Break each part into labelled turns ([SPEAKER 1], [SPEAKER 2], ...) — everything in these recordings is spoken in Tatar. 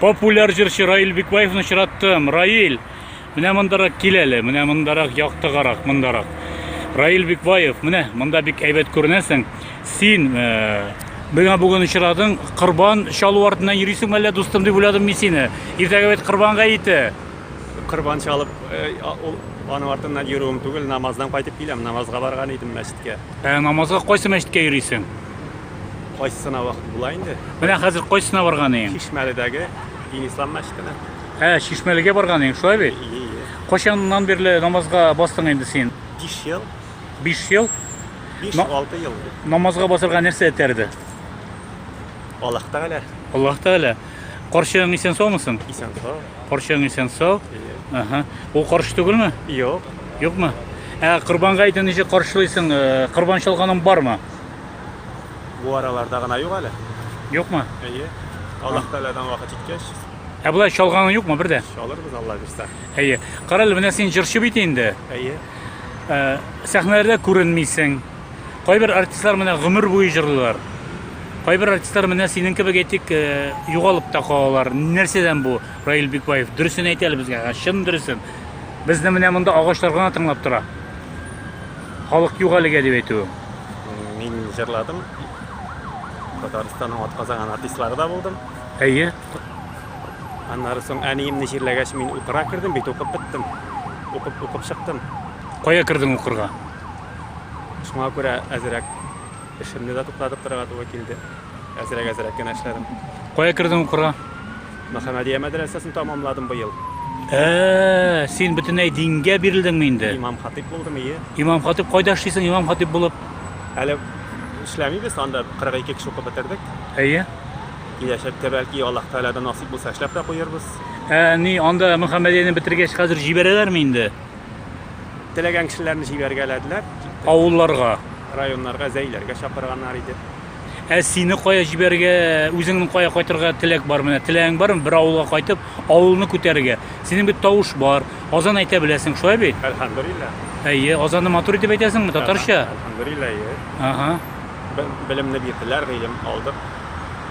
[SPEAKER 1] популяр җырчы Раил Бикбаевны очраттым. Раил, менә мондарак кил әле, менә мондарак яктыгарак, мондарак. Раил Бикбаев, менә монда бик әйбәт күренәсең. Син э, миңа бүген очрадың, корбан чалу артыннан йөрисең әллә, дустым, дип уйладым мин сине. Иртәгә бит корбан гаете. Корбан чалып, ул аның артыннан йөрүем түгел, намаздан кайтып киләм, намазга барган идем мәчеткә. Ә намазга кайсы мәчеткә йөрисең? Кайсысына вакыт була инде? Менә хәзер кайсысына барган идең? Чишмәледәге Дин ислам мәчетенә. Ә, Чишмәлегә барган идең, шулай бит? Ие, ие. Кайчаннан бирле намазга бастың инде син? 5 ел. 5 ел? 5-6 ел. Намазга басырга нәрсә этәрде? Аллаһ Тәгалә. Аллаһ Тәгалә. Карчыгың исән саумы соң? Исән сау. Карчыгың исән сау. Ага. Ул каршы түгелме? Юк. Юкмы? Ә Корбан гаетен ничек каршылыйсың? Э, Корбан чалганың бармы? Бу араларда гына юк әле. Юкмы? Әйе. Аллаһ Тәгаләдән вакыт җиткәч, Ә болай чалганың юкмы бер дә? чалырбыз Алла бирсә. Әйе. Кара әле, менә син җырчы бит инде. Әйе. Э, Сәхнәләрдә күренмисең. Кайбер артистлар менә гомер буе җырлыйлар. Кайбер артистлар менә синең кебек әйтик, э, югалып та калалар. Нәрсәдән бу, Раил Бикбаев? Дөресен әйт әле безгә, ә, чын дөресен. Безне менә монда агачлар гына тыңлап тора. Халык юк әлегә дип әйтүем. Мин җырладым. Татарстанның атказанган артистлары да булдым. Әйе. Аннары соң әниемне җирләгәч, мин укырга кердем бит, укып беттем. Укып, укып чыктым. Кая кердең укырга? Шуңа күрә әзрәк эшемне дә туктатып торырга туры килде. Әзрәк-әзрәк кенә эшләдем. Кая кердең укырга? Мөхәммәдия мәдрәсәсен тәмамладым быел. Ә, син бөтенләй дингә бирелдеңме инде? Имам-хатыйп булдым, ие. Имам-хатыйп кайда эшлисең, имам-хатыйп булып? Әле эшләмибез, анда 42 кеше укып бетердек. Әйе. Киләчәктә, бәлки, Аллаһ Тәгаләдән насыйп булса, эшләп тә куербыз. Ә, ни, анда Мөхәммәдияне бетергәч, хәзер җибәрәләрме инде? Теләгән кешеләрне җибәргәләделәр, киттек. Авылларга. Районнарга, зәйләргә чакырганнар иде. Ә сине кая җибәргә, үзеңнең кая кайтырга теләк бар менә? Теләгең бармы бер авылга кайтып, авылны күтәрергә? Синең бит тавыш бар, азан әйтә беләсең, шулай бит? Әлхәмдүриллә. Әйе, азанны матур итеп әйтәсеңме, татарча? Әлхәмдүриллә, әйе. Ага. Белемне бирделәр, гыйлем алдык,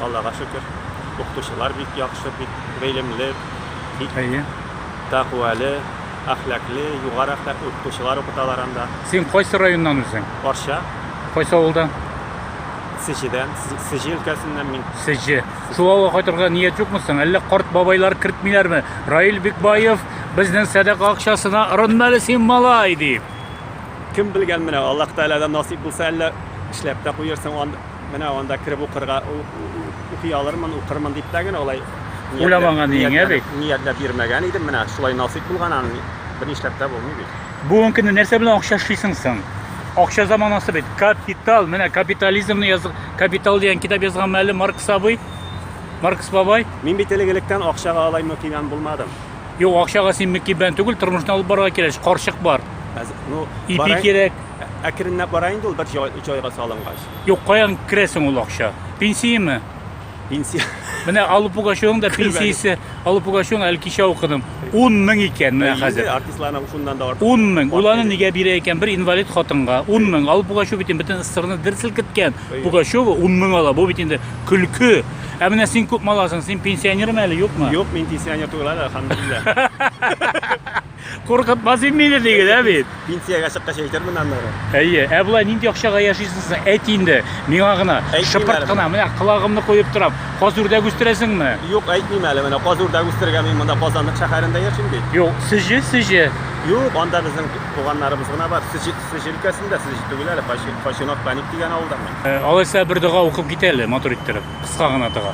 [SPEAKER 1] Аллага шөкер. Укытучылар бик яхшы, бик гыйлемле, бик. Әйе. Тәкъвәле. Әхлакле, югары әхлаклы укытучылар укыталар анда. Син кайсы районнан үзең? Арча. Кайсы авылдан? Сечидән, Сечи өлкәсеннән мин. Сечи. Шул авылга кайтырга ният юкмы соң? Әллә карт бабайлар кертмиләрме? Раил Бикбаев безнең сәдака акчасына ырынма әле син малай дип. Кем белгән менә, Аллаһ Тәгаләдән насыйп булса, әллә эшләп тә куерсың анда. Менә анда кереп укырга, укый алырмын, укырмын дип тә генә алай ниятләп йөрмәгән идем. Менә шулай насыйп булган, аны бернишләп тә булмый бит. Бүгенге көнне нәрсә белән акча эшлисең соң? Акча заманасы бит. Капитал, менә капитализмны яз, капитал дигән китап язганмы әле Маркс абый? Маркс бабай? Мин бит элек электән акчага алай мөкибән булмадым. Юк, акчага син мөкибән түгел, тормышны алып барырга кирәк. Карчык бар. Ну, ипи кирәк. Әкренләп бара инде ул бер җайга салынгач. Юк, каян керә соң ул акча? Пенсияме? Пенсия. Менә Аллы Пугачевның да Көлмәгез. пенсиясе, Аллы Пугачевның әле кичә укыдым. 10 мең икән менә Инде хәзер. Артистларның шуннан да артык. 10 мең. Ул аны нигә бирә икән? Бер инвалид хатынга 10 мең. Аллы Пугачев бит инде бөтен СССРны дер селкеткән. Әйе. Пугачева 10 мең ала. Бу бит инде көлке. Ә менә син күпме аласың? Син пенсионерме әле, юкмы? Юк, мин пенсионер түгел әле, алхамдулилла. Куркытмас инде диген, ә бит. Пенсиягә чыккач әйтермен аннары. Әйе, ә болай нинди акчага яшисез? Әйт инде, миңа гына, шыпырт кына, менә колагымны куеп торам. Каз үрдәк үстерәсеңме? Юк, әйтмим әле, менә каз үрдәк үстерергә мин монда Казанлык шәһәрендә яшим бит. Юк, Сежи, Сежи. Юк, анда безнең туганнарыбыз гына бар. Сежи, Сежи өлкәсендә, Сежи түгел әле, Фачинок Паник дигән авылдан мин. Алайса бер дога укып кит әле, матур иттереп, кыска гына дога.